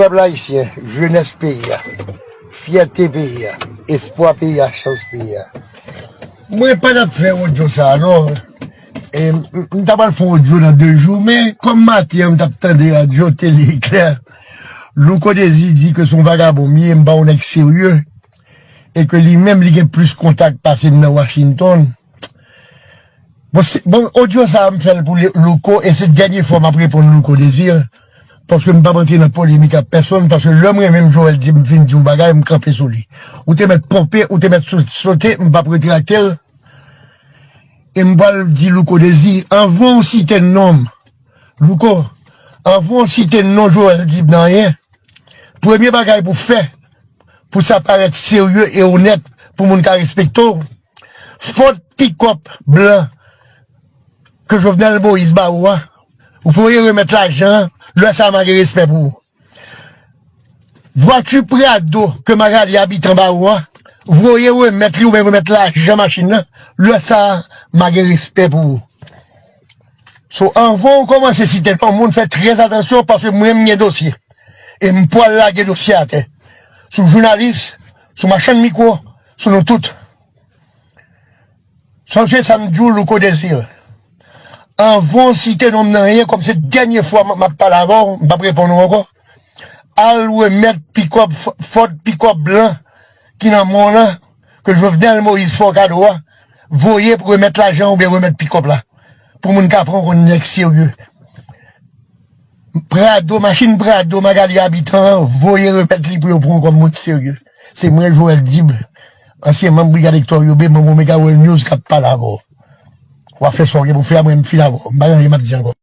Pèp ayisyen, jenès peyi a, fyète peyi a, espwa peyi a, chans peyi a. Mwen pa tap fè odyo sa non, m ta pral fè yon odyo nan 2 jou men kòm maten an m tap tande radyo, tele eklè, Louko Dezi di ke se yon vagabon m ye, m pa yon nèg serye. e ke li menm li gen plis kontak pase m nan Washington bon odyo sa m fèl pou Louko e se dènye fwa map reponn Louko Désir paske m pap antre nan polemik ak pèsonn paske lèm renmen m Joel di m fin di yon bagay m kanpe sou li ou te mèt ponpe ou te mèt sote m pap retrakte l e m pwal di Louko Désir anvan ou site non m Louko anvan ou site non Joel di m nan anyen premye bagay pou fè pou sa parèt serye e onèt pou moun ka respekte w, fot pikòp blan ke Jovenel Moïse ba ou a, ou voye remèt lajan an, lè sa a ma gen respè pou ou. Vwati Prado ke Magalie Habitant ba ou a, voye remèt li oubyen remèt lajan machin nan, lè sa a ma gen respè pou ou. So anvan ou komanse site non moun fè trè atansyon paske mwen m gen dosye e m pwal lage dosye atè sou jounalis, sou machann mikwo, sou nou tout. Sonje sa m di w Louko Desir, anvan w site non m nan anyen kòm se dènye fwa map pale avè w m pap reponn ou ankò. Al remèt pikòp Ford pikòp blan ki nan men w lan ke Jovenel Moïse fè w kado a, voye pou remèt lajan oubyen remèt pikòp la pou moun ka pran w kon nèg serye. Prado, machin prado Magalie Habitant an voye remèt li pou yo pran w kòm moun serye. Se mwen Joel Dible, ansyen manm Brigad Hector Yobe, manm Omega World News k ap pale avè w. W ap fè sa w gen pou w fè apre m fin avè w. M pa gen anyen m ap di ankò.